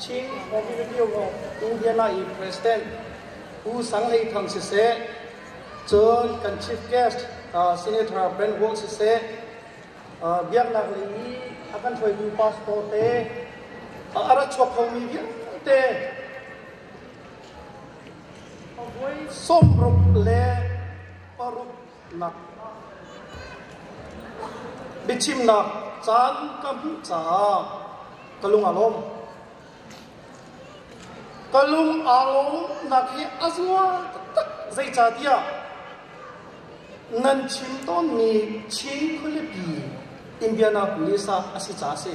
Chin Revenue Indiana i President Pu Sang Hlei Thang siseh, cun kan Chief Guest Senator Ben Wold siseh, biaknak lei i a kan hruaimi pastor te, a rat chuak khomi vialte avoi sawm ruk le paruk biachimnak caan ka hmuh caah ka lung a lawm. Ka lung aa lawmnak hi a zuwa taktak zeicahtiah nan chim tawnmi Chin khualipi Indianapolis ah a si caah a si.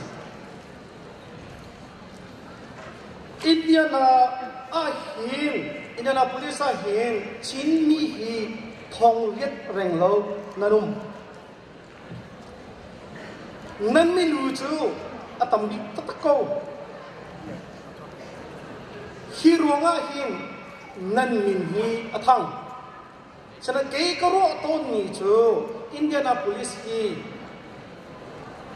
Indian Annapolis ahhin Chinmi hi thong riat reng lo nan um. Nan milu cu a tam bik taktak ko. Hi ruangah hin nan min hi a thang. Cuman kei ka ruah tawnmi cu Indianapolis i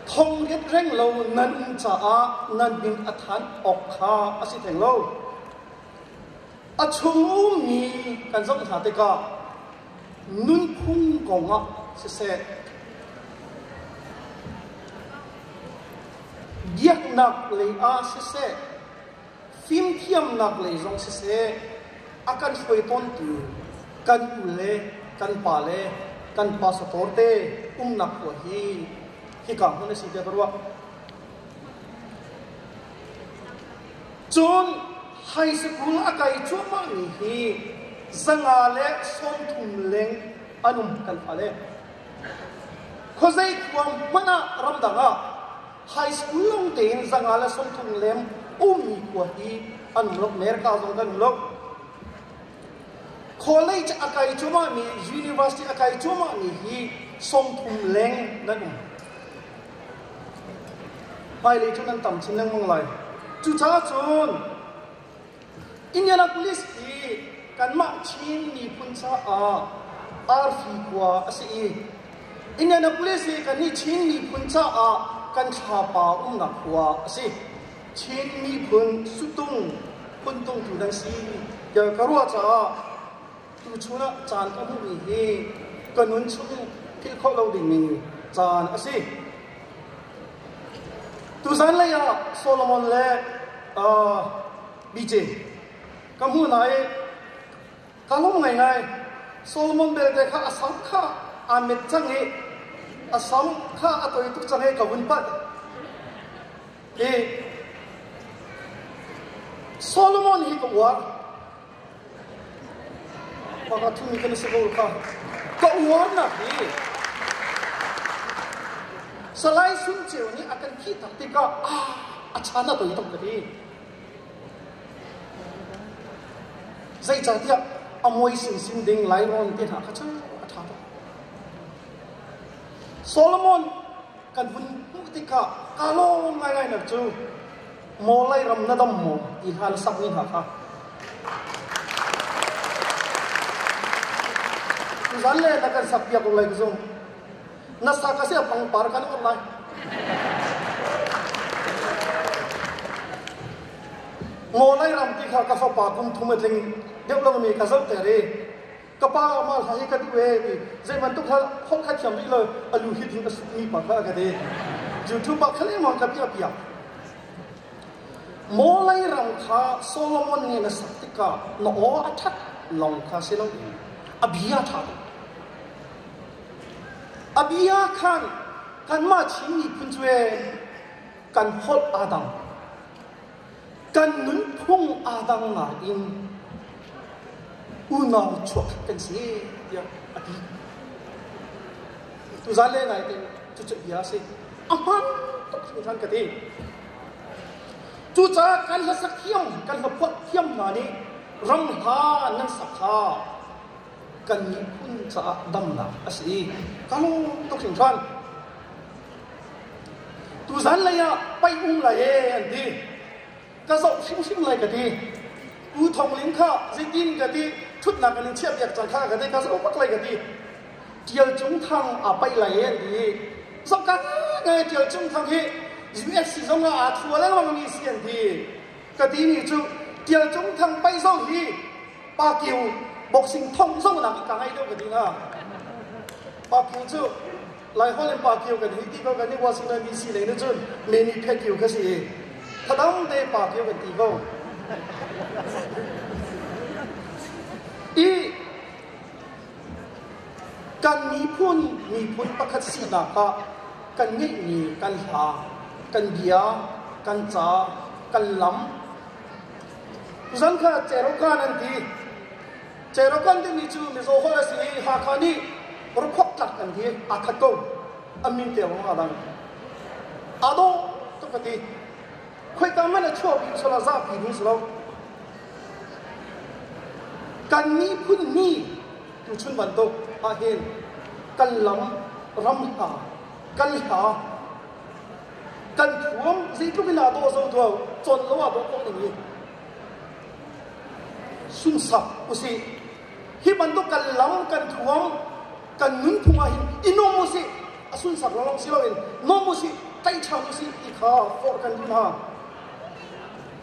thonglet reng lo nan caah nan min a thanh awk kha a si theng lo. A chungummi kan zoh hna tikah nunphung kong ah siseh, biaknak lei ah siseh, fimthiamnak lei zong siseh a kan hruai tawntu kan u le kan pa le kan pastor te umnak puan hi hika hmun a si tiah ka ruah cun high school a kai cuahmahmi hi zanga le sawmthum leng an um kan fale khuazei khuang hmanh ah ramdang ah high school lawng tein zanga le sungthum lem ummi khua hi an um lo America zong kan um lo college a kai cuma mi university a kai cuma mi hi sungthum leng nan um hmailei cu nan tam chin lengmang lai cucaah cun Indianapolis hi kanmah Chin miphun caah arfi khua a si i Indianapolis hi kannih Chin miphun caah kan thlapa umnak khua a si. Chin miphun sutung phuntung tu nan si tiah ka ruah caah Tuchun ah caan ka hmuhmi hi ka nun chung in philh khawh lo dingmi caan a si. Tuzan lei ah Solomon le uh, BJ ka hmu na i ka lung ngai ngai Solomon belte kha a sam kha aa met cang i a sam kha a toi tuk cang i ka vun pat i Solomon hi ka uar Pakhat thun kan savor kha ka uarnak hi salai sung ceu nih a kan khih tak tikah a chan a toi tak ka ti zeicahtiah a muai sin sin ding lainawn te hna kha cu a ṭha tak Solomon kan vun hmuh tikah ka lawm ngai ngai nak cu Maw lei ram na dam maw ti hna na sakmi hna kha tuzan le na kan sakpiak ko lai ka zung na sak ka se pangpar kan on lai ngolai ram ti kha ka fapa kum thum a tling deuh langmi ka zoh ter i ka pa amah hla hi ka duh ee ti zeibantuk hla phok kha thiam rih lo a lu hit in mi pa kha ka ti youtube ah khaleng mang ka piah piak maw lei ram kha solomon nih na sak tikah na aw a that long kha si lo in a bia tha lo a bia khan kanmah chin miphun cu kan holh adang kan nunphung aa dang ngaiin unau chuak kan si tiah a ti. Tuzan le ngai tein cucu bia a si. A hman tuk hringhran ka ti. Cucaah kan la sakhiang, kan la phuat thiam hna nih rang ha nan sak kha kan miphun caah damnak a si i ka lung tuk hringhran tuzan lei ah paihung lai e an ti ka zoh hrimhrim lai ka ti u thong ling kha zitin ka ti thutnak in chiah piak cang kha ka ti ka zoh bak lai ka ti tial cung thang a paih lai e an ti zoh ka ngai tial cung thang hi USC zong ah aa thu lengmang mi si an ti ka timi cu Tial Cung Thang Pai zong hi Pa Kio boxing thong zong nak ka ngei deuh ka ti na Pa Kio cu Laiholh in Pa Kio kan hi ti ko kan i Washington DC lei nu cun Meni Phet Kio ka si i thadang te Pa Kio kan ti ko i Kan miphun miphun pakhat sinak ah kan ngeihmi kan hla, kan bia, kan ca, kan lam. Kuzan kha Cerokan an ti. Cerokan timi cu Mizo holh a si i Hakha nih rukhuak tlak an ti. Aa khat ko. An min te awng a lang. A dawh ka ka ti. Khoika man a chuahpi sala zahpi ding si lo. kan miphun nih tuchun bantuk ahhin kan lam ram hna kan hla kan thuam zeitluk in aa dawh zo tuau con lo ah dawh ko ding in sungsak usih hi bantuk kan lam kan thuam kan nunphung ahhin i nom usih a sunsak lawng si loin nom usih tei ṭhan usih ti kha forh kan duh hna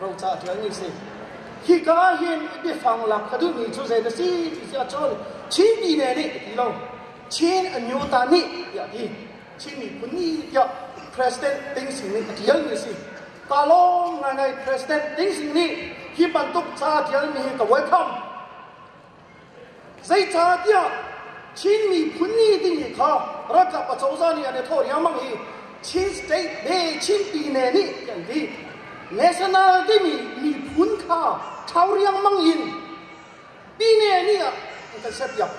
roca ṭialmi si hika hin biafang lak ka duhmi cu zei na si ti si ahcun Chinmi ne nih ti lo Chin a nyu ta nih tiah ti Chin miphun ni tiah president ding sin in a ṭialmi si ta lawng ngai ngai president ding sin nih hi bantuk ca ṭialmi ka welcome Zeicahtiah Chin miphun nih tinghi kha ralkap acozah nih an i thawh riangmang i Chin state le Chinpi ne nih ti an ti. National timi miphun kha thau riangmang in pine nih ah an kan serpiak.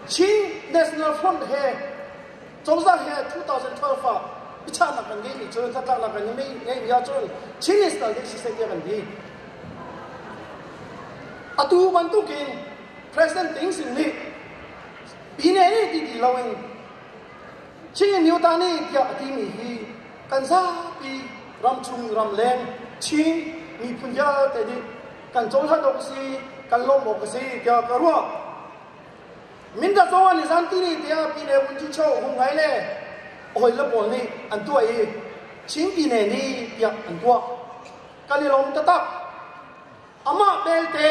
Chin National Front he Cozah he 2012 ah biachahnak kan ngeih ni cun hnatlaknak kan ngeih ni ahcun Chin National League Society ah kan di. Atu bantuk in President Ding sin nih pine ni ti ti lo in Chin Nyutani tiah a timi hi kan zapi ram chung ram leng Chin miphun vialte nih kan cawhla dawk si kan lawm awk si tiah ka ruah. Mindat zongah ni zan tini tiang pi le vunci cho hung rai le hawi le pawl nih an tuah i chingpi ne ni tiah an tuah kalilom tatak amah belte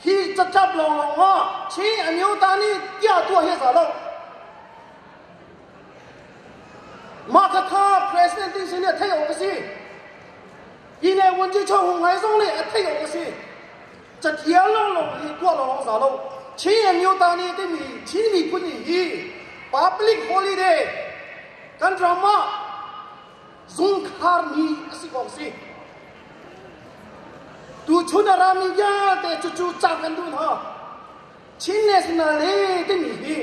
hi cacap lawnglawng ngo chi anio ta ni tia tua hi sa lo mah thatha president ding sin hi theih awk a si pi le vunci cho hung rai zong nih a theih awk a si cathiang lawnglawng hi tuah lawng za lo Chin MUtani timi Chin miphun hi public holiday kan ram ah zungkhar ni a si kong si tu chun a rami vialte cu cu cak an duh hna Chin National he timi hi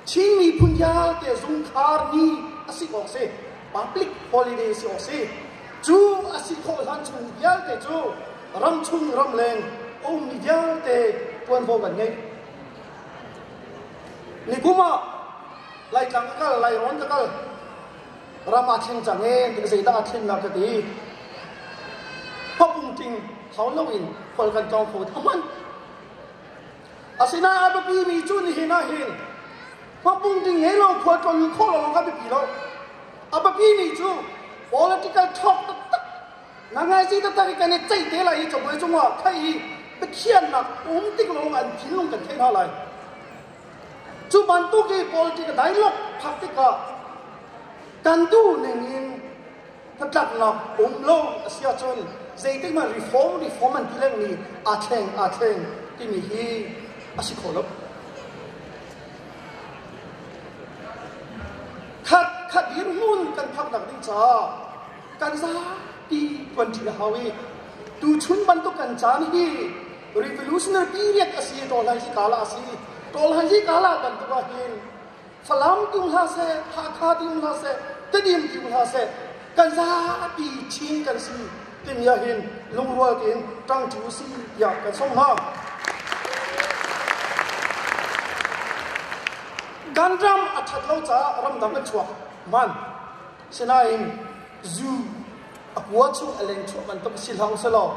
Chin miphun vialte zungkhar ni a si awk si public holiday si awk si cu a si khawh hlan chung vialte cu ram chung ram leng a ummi vialte ṭuanvo kan ngei nikum ah laitlang ka kal lairon ka kal ram ah thleng cang ee ti zeidah thleng lah ka ti papung ting hau lo in khual kan tlawng kho ta hman Asinain a biapimi cu nihin ahhin khuapung ding he lo khua tlon khawh lawng a biapi lo. A biapimi cu political talk taktak na ngaizi taktak i kan i ceih te lai i cabuai cungah khaih hi biakhiannak um tik lawng an thinlung kan theih hna lai. Cu bantuk i politik dai lok phak tikah kan duh ning in hnatlaknak um lo a si ahcun zeitikmah reform reform an ti lengmi aa thleng aa thleng timi hi a si khawh lo khat khat hirhmun kan phaknak ding caah kan zapi tuanṭi a hau i tuchun bantuk kan caan hi revolutionary period a si tawlhan hi kala a si tawlhan hi kala bantuk ahhin Falam tung hlah seh, Hakha dim hlah seh, Tedim dim hlah seh, kan zapi chin kan si timi hin lungrual tein ṭang ṭi u si tiah kan sawm hna. Kan ram a ṭhat lo caah ramdang a chuak man. Sinain zu a kua chung a leng chuah bantuk si hlang selaw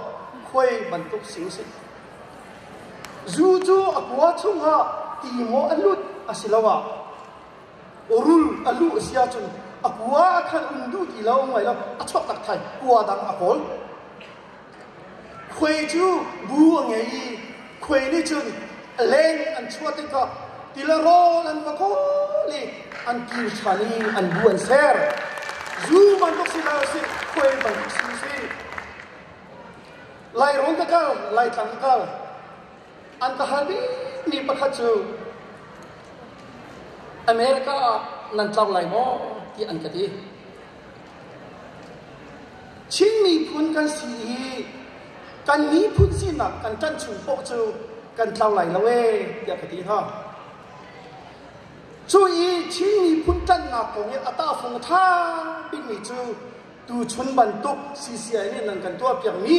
khuai bantuk si u si. Zu cu a kua chungah tingawh a lut asiloah urul a luh a si ahcun a kua ah khan um duh ti lo hngai lo a chuak tak thai kua dang a kawl. Khuai cu bu a ngei i khuai nih cun a leng an chuah tikah tila rawl an va kawl i an kir ṭhan i an bu an ser. Zu bantuk si lo si, khuai bantuk si si. Lairung ka kal, Laitlang ka kal. An ka hal bikmi pakhat cu America ah nan tlau lai maw ti an ka ti. Chin miphun kan si i kan miphun sinak kan ṭanh chung poh cu kan tlau lai lo ee tiah ka ti hna. Cu i Chin miphun ṭanhnak kong i a tahfung ṭha bikmi cu tuchun bantuk CCI nih nan kan tuahpiakmi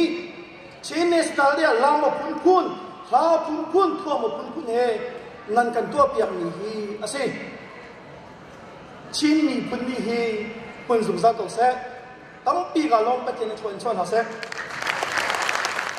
Chin National le lam a phunphun hla phunphun thuam a phunphun he nan kan tuahpiakmi hi a si Chin miphun nih hi hmun zungzal ko seh tampi ka lawng Pathian in chuan chuan hlah seh